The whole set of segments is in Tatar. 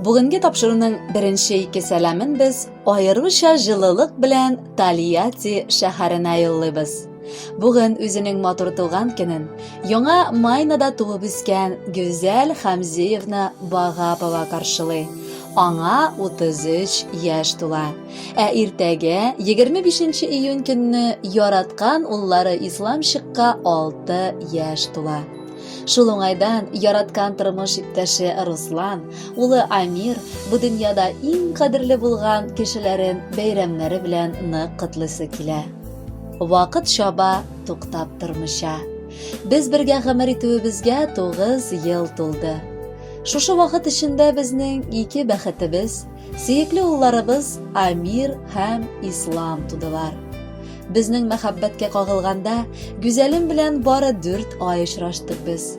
Бүгенге тапшыруның беренче ике сәламен без аеруча җылылык белән Тольятти шәһәренә юллыйбыз. Бүген үзенең матур туган көнен яңа Майнада туып үскән Гүзәл Хамзиевна Багапова каршылый. Аңа 33 яшь тула. Ә иртәгә 25 июнь көнне яраткан уллары Исламчыкка 6 яшь тула. Шул уңайдан яраткан тормыш иптәше Руслан, улы Амир бу дөньяда иң кадерле булган кешеләрен бәйрәмнәре белән нык котлыйсы килә. Вакыт чаба, туктап тормыйча. Без бергә гомер итүебезгә 9 ел тулды. Шушы вакыт эчендә безнең ике бәхетебез, сөекле улларыбыз Амир һәм Ислам тудылар. Безнең мәхәббәткә кагылганда, гүзәлем белән бары дүрт ай очраштык без.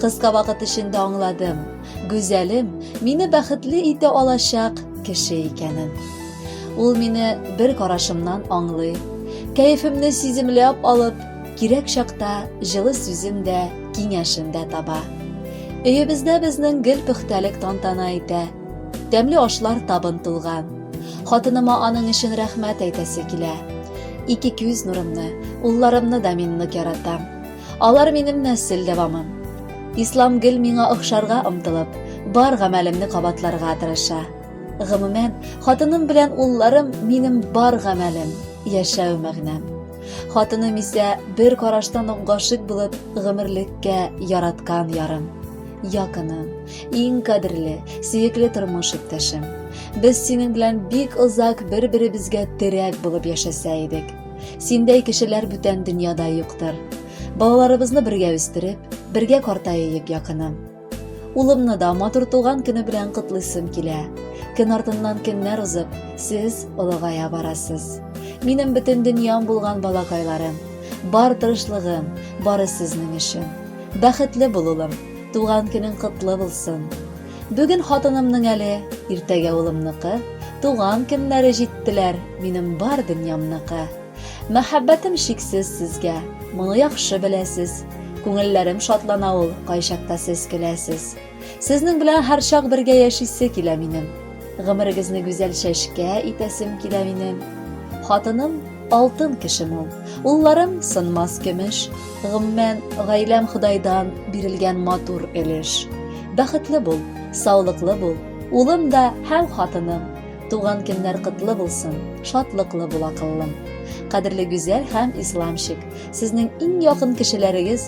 Кыска вакыт эчендә аңладым, гүзәлем мине бәхетле итә алачак кеше икәнен. Ул мине бер карашымнан аңлый, кәефемне сиземләп алып, кирәк чакта җылы сүзен дә, киңәшен дә таба. Өебездә безнең гел пөхтәлек тантана итә. Тәмле ашлар табын тулган. Хатыныма аның өчен рәхмәт әйтәсе килә. Ике күз нурымны, улларымны да мин нык яратам. Алар минем нәсел дәвамым. Ислам гел миңа охшарга омтылып, бар гамәлемне кабатларга тырыша. Гомумән, хатыным белән улларым минем бар гамәлем, яшәү мәгънәм. Хатыным исә бер караштан ук гашыйк булып, гомерлеккә яраткан ярым. Якыным, иң кадерле, сөекле тормыш иптәшем. Без синең белән бик озак бер-беребезгә терәк булып яшәсә идек. Синдәй кешеләр бүтән дөньяда юктыр. Балаларыбызны бергә үстереп, бергә картаеек якыным. Улымны да матур туган көне белән котлыйсым килә. Көн артыннан көннәр узып, сез олыгая барасыз. Минем бөтен дөньям булган балакайларым, бар тырышлыгым, бары сезнең өчен. Бәхетле бул, улым, туган көнең котлы булсын. Бүген хатынымның әле, иртәгә улымныкы, туган көннәре җиттеләр, минем бар дөньямныкы. Мәхәббәтем шиксез сезгә, моны яхшы беләсез. Күңелләрем шатлана ул, кайчакта сез көләсез. Сезнең белән һәрчак бергә яшисе килә минем. Гомерегезне гүзәл чәчкә итәсем килә минем. Хатыным алтын кешем ул. Улларым сынмас көмеш. Гомумән, гаиләм Ходайдан бирелгән матур өлеш. Бәхетле бул, саулыклы бул. Улым да һәм хатыным. Туган көннәр котлы булсын, шатлыклы бул акыллым. Кадерле Гүзәл һәм Исламчик, сезнең иң якын кешеләрегез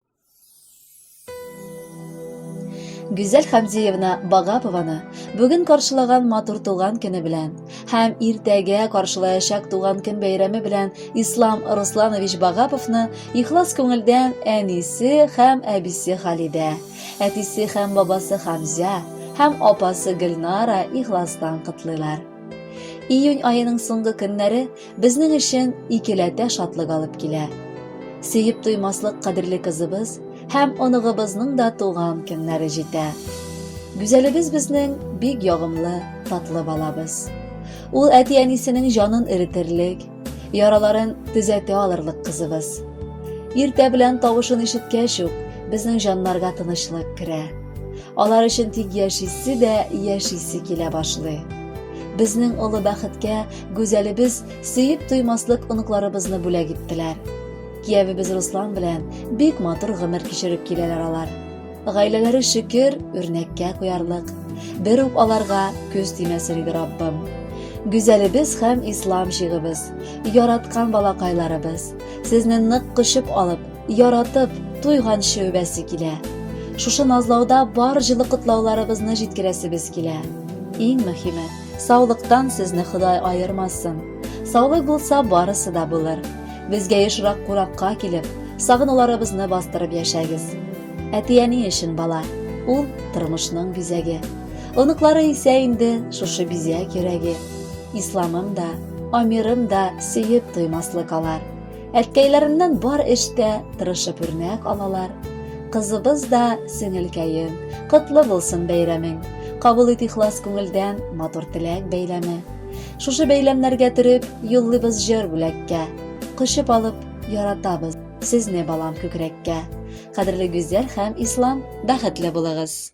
Гүзәл Хамзиевна Багапованы бүген каршылаган матур туган көне белән һәм иртәгә каршылаячак туган көн бәйрәме белән Ислам Русланович Багаповны ихлас күңелдән әнисе һәм әбисе Халидә, әтисе һәм бабасы Хамзя һәм апасы Гөлнара ихластан котлыйлар. Июнь аеның соңгы көннәре безнең өчен икеләтә шатлык алып килә. Сөеп туймаслык кадерле кызыбыз һәм оныгыбызның да туган көннәре җитә. Гүзәлебез безнең бик ягымлы, татлы балабыз. Ул әти-әнисенең җанын эретерлек, яраларын төзәтә алырлык кызыбыз. Иртә белән тавышын ишеткәч үк, безнең җаннарга тынычлык керә. Алар өчен тик яшисе дә яшисе килә башлый. Безнең олы бәхеткә Гүзәлебез сөеп туймаслык оныкларыбызны бүләк иттеләр. Киявебез Руслан белән бик матур гомер кичереп киләләр алар. Гаиләләре шөкер, үрнәккә куярлык. Бер үк аларга күз тимәсен иде Раббым. Гүзәлебез һәм ислам җигыбыз, яраткан балакайларыбыз, сезне нык кочып алып, яратып, туйганчы үбәсе килә. Шушы назлауда бар җылы котлауларыбызны җиткерәсебез килә. Иң мөһиме, Саулыктан сезне Ходай аермасын. Саулык булса, барысы да булыр. Безгә ешрак куракка килеп, сагынуларыбызны бастырып яшәгез. Әти-әни өчен бала, ул тормышның бизәге. Оныклары исә инде шушы бизәк йөрәге. Исламым да, Амирым да сөеп туймаслык алар. Әткәйләреннән бар эштә тырышып үрнәк алалар. Кызыбыз да сеңелкәем, котлы булсын бәйрәмең. Кабул ит ихлас күңелдән матур теләк бәйләме. Шушы бәйләмнәргә төреп, юллыйбыз җыр бүләккә. Кочып алып, яратабыз сезне балам күкрәккә. Кадерле Гүзәл һәм Ислам, бәхетле булыгыз!